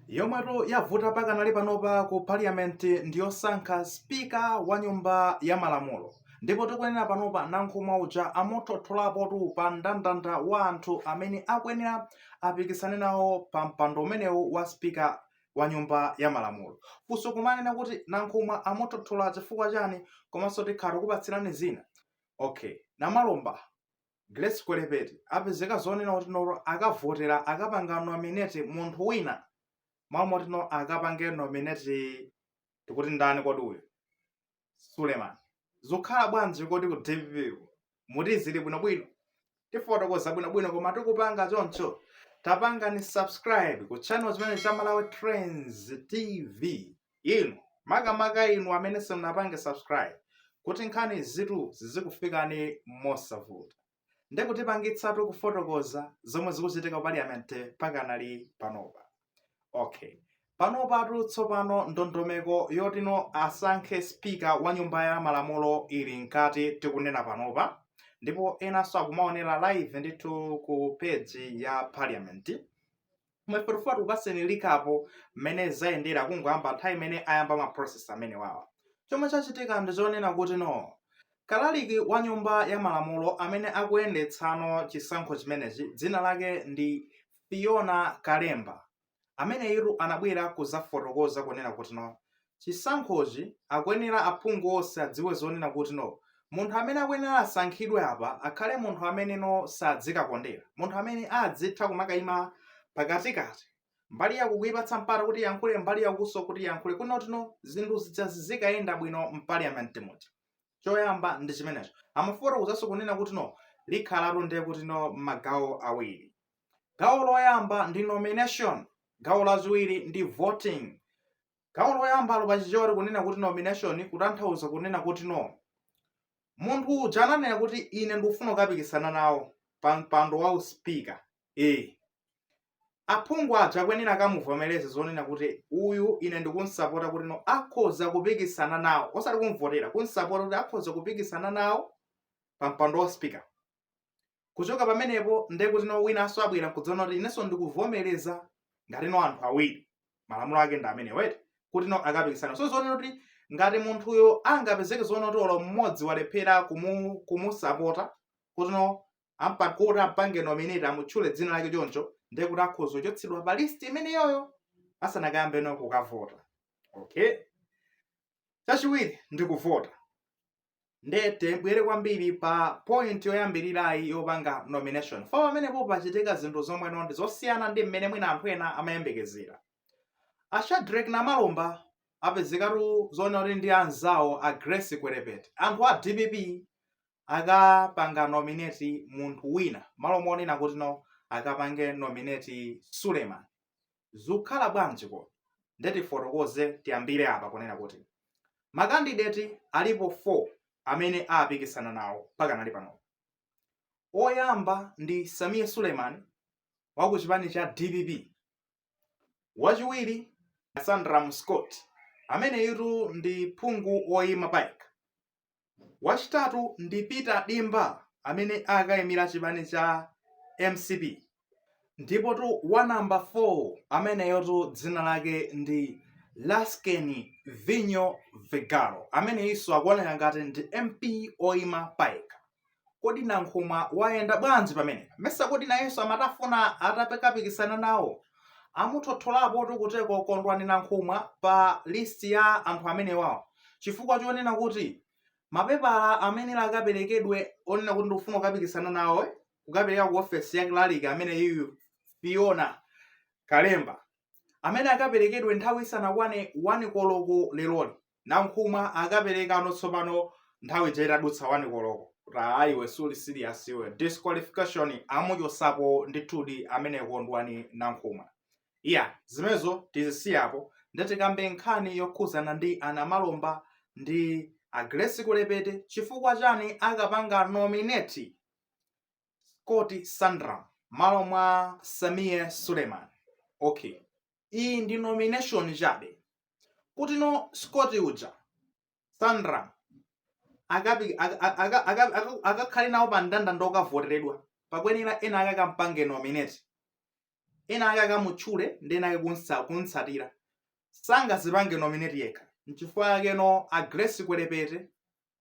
yomwetu yavuta pakanali panopa ku parliament ndiyosankha spika wa nyumba ya malamulo ndipo tikuyenera panopa nankhumwa uja amuthotholapotu pa mndandanda wa anthu amene akuyenera apikisane nawo pa mpando umenewu wa spika wa nyumba ya malamulo funso kumanena kuti nankhumwa amuthothola chifukwa chani komanso tikhala tikupatsirani zina okay namalomba Grace Kwelepeta apezeka zonena kuti no akavotera akapanga nominate munthu wina malo moti no akapange nominate tikuti ndani kodi uyu Suleman zikhala bwanji kodi ku DPP ku? muti zili bwinobwino tifotokoza bwinobwino koma tikupanga choncho tapangani subscribe ku channel chimene cha Malawi Trends TV Inu, makamaka inu amene simunapange subscribe, kuti nkhani izitu zizikufikani mosavuta. Nde tikupangitsatu kufotokoza zomwe zikuchitika ku parliament pakanali panopa. Okay. Panopatu tsopano ndondomeko yotino asankhe speaker wa nyumba ya malamulo ili mkati tikunena panopa ndipo enanso akumaonera live ndithu ku page ya parliament. koma ife tikufuna tikupaseni recap mmene zayendera kungoyamba nthawi imene ayamba ma process amenewawa chomwe chachitika ndi chonena kuti no kalaliki wa nyumba ya malamulo amene akuyendetsano chisankho chimenechi dzina lake ndi fiona kalemba ameneyitu anabwera kuzafotokoza kunena kuti no chisankhochi akuyenera aphungu onse adziwe zonena kuti no munthu amene akuyenera asankhidwe apa akhale munthu amene no sadzikakondera munthu amene adzitha kumakayima pakatikati mbali yaku kuipatsa mpata kuti yankhule mbali yakunso kuti yankhule kuti no zinthu zidzikayenda bwino mpaliament muja choyamba ndi chimenecho amafotokozanso kunena kuti no zikhalatu ndiye kuti no magawo awiri gawo loyamba ndi nomination gawo lachiwiri ndi voting gawo loyambalo pa chichewa tikunena kuti nomination kutanthauza kunena kuti no munthu uja ananena kuti ine ndikufuna kukapikisana nawo pa mpando wa uspika e aphungu aja akuyenera akamuvomereze zonena kuti uyu ine ndikunsapota kuti no akhoza kupikisana nawo osati kumvotera kunsapota kuti akhoza kupikisana nawo pa mpando wa uspika kuchoka pamenepo ndiye kuti no winanso abwera nkudzanena kuti inenso ndikuvomereza ngati no anthu awiri malamulo ake ndi amene wete kuti no akapikisana so zonena kuti ngati munthuyo angapezeke zonena kuti olo mmodzi walephera kumu, kumusapota kuti no ampa- kuti ampange nominate amutchule dzina lake choncho ndiye kuti akhoza kuchotsedwa pa list imeneyoyo asanakayambe no kukavota okay chachiwiri ndi kuvota nde tibwere kwambiri pa point yoyambirirayi yopanga nomination fa pamenepo pachitika zinthu zomwe no ndi zosiyana ndi mmene mwina anthu ena amayembekezera a shadrack namalomba apezekatu zonena kuti ndi anzawo a grace kwelepeta anthu a dpp akapanga nominate munthu wina malo monena kuti no akapange nominate suleman zukhala bwanji kodi? Nde tifotokoze tiyambire apa kunena kuti ma candidate alipo 4 amene apikisana nawo pakanali panopa. Oyamba ndi Sameer Suleiman wa ku chipani cha dpp, wachiwiri Sandram Scott ameneyitu ndi phungu woyima payekha Wachitatu ndi Peter Dimba amene akaimira chipani cha mcp ndipotu wa number 4 ameneyotu dzina lake ndi Lasting Vinyo Vigalo ameneyinso akuoneka ngati ndi MP oima payekha. Kodi Nankhumwa wayenda bwanji pamenepa? Mesa kodi nayenso amatafuna atakapikisana nawo? Amuthotholapotu kuteko Kondwani Nankhumwa pa list ya anthu amenewawa chifukwa chonena kuti mapepala amene akaperekedwe onena kuti ndikufuna kukapikisana nawo eh, kukapereka ku ofesi ya clerk ameneyuyu Fiona Kalemba amene akaperekedwe nthawi isanakwane 1 koloko leroli. Nankhumwa akaperekano tsopano nthawi ija itadutsa 1 koloko kuti aa iwe suli serious iwe disqualification amuchosapo ndithudi amene Kondwani Nankhumwa. Iya zimenezo tizisiye apo nde tikambe nkhani yokhuzana ndi a Namalomba ndi a Grace Kwelepeta chifukwa chani akapanga nominate Scott Sandram malo mwa Sameer Suleiman. Okay. iyi ndi nomination chabe kuti no scott uja sandram akakhale nawo pa mndandanda okavoteredwa pakuyenera ena ake akampange nominate ena ake akamutchule ndi ena ake kunsa- kumtsatira sangazipange nominate yekha nchifukwa yakeno a grace kwelepeta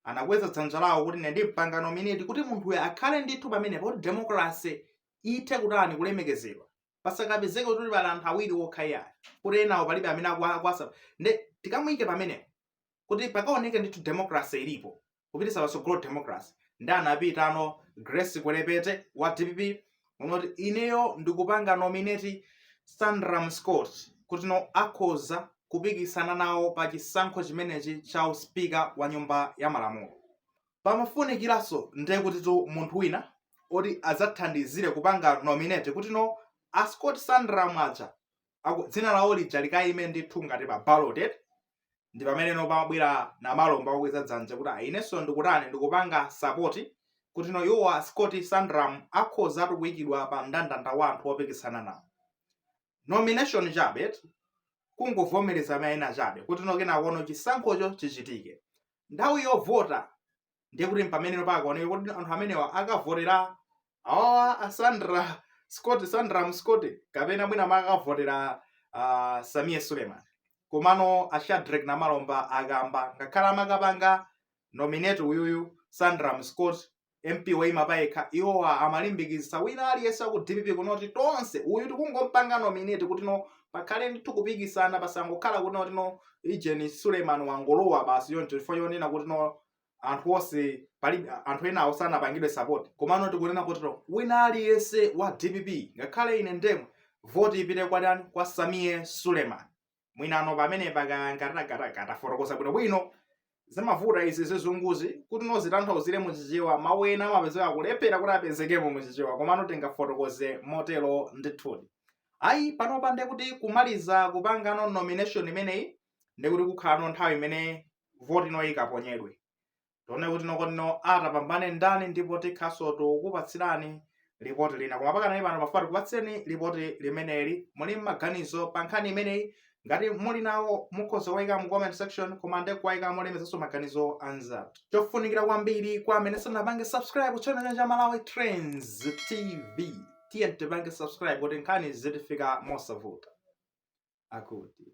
anakweza dzanja lawo kuti ine ndimpanga nominate kuti munthuyo akhale ndithu pamenepo kuti democracy ithe kutani kulemekezedwa pasakapezeke kuti pali anthu awiri wokha iyayi kuti enawo palibe amene akuwasa nde tikamuyike pamenepo kuti pakaoneke ndithu democracy ilipo kupitisa patsogolo democracy nde anapitano grace kwelepeta wa dpp kunoti ineyo ndikupanga nominate sandram scott kuti no akhoza kupikisana nawo pa chisankho chimenechi cha uspika wa nyumba ya malamulo pamafunikiranso ndiye kutitu munthu wina oti adzathandizire kupanga nominate kuti no a sandram scott aja aku- dzina lawo lija likayime ndithu ngati pa ballot eti ndi pamene no pamabwera namalomba akukweza dzanja kuti ayi inenso ndikutani ndikupanga sapoti kuti no iwowa scott sandram akhoza kuyikidwa pa mndandanda wa anthu opikisana nawo nomination chabe eti kungovomereza mayina chabe kuti no kenako no chisankhocho chichitike nthawi yovota ndiye kuti mpamene no pakaoneke kuti anthu amenewa akavotera awawa a sandra scott sandram scott kapena mwina akavotera uh, samie suleiman komano a shadrack namalomba akamba ngakhale amakapanga nominate uyuyu sandram scott mp waima payekha iwowa amalimbikitsa wina aliyense waku dpp kunena kuti tonse uyu tikungompanga nominate kuti no pakhale ndithu kupikisana pasangokhala kuti noti no ijeni suleiman wangolowa basi yoncho chifukwa yonena kuti no anthu onse pali anthu enawo sanapangidwe sapoti komano tikunena kuti no wina aliyense wa dpp ngakhale ine ndemwe voti ipite kwa dani kwa samie suleiman mwinano pamenepa kangatakatakata tafotokoza bwinobwino zimavuta izi zizunguzi kuti no zitanthauzire mu chichewa mawu ena amapezeka kulephera kuti apezekemo mu chichewa komano tingafotokoze motero ndithudi ayi panopa nde kuti kumaliza kupangano nomination imeneyi nde kuti kukhalano nthawi imene voti ino ikaponyedwe tione kuti no kodi no atapambane ndani ndipo tikhanso tikukupatsirani lipoti lina koma pakanali pano timafuna tikupatsireni lipoti limeneli muli mmaganizo pa nkhani imeneyi ngati muli nawo mukhoza kuwaika mu comment section koma nde kuwaika molemezanso maganizo anzathu chofunikira kwambiri kwa amene sanapange subscribe ku channel cha malawi trends tv tiye tipange subscribe kuti nkhani zitifika mosavuta akuti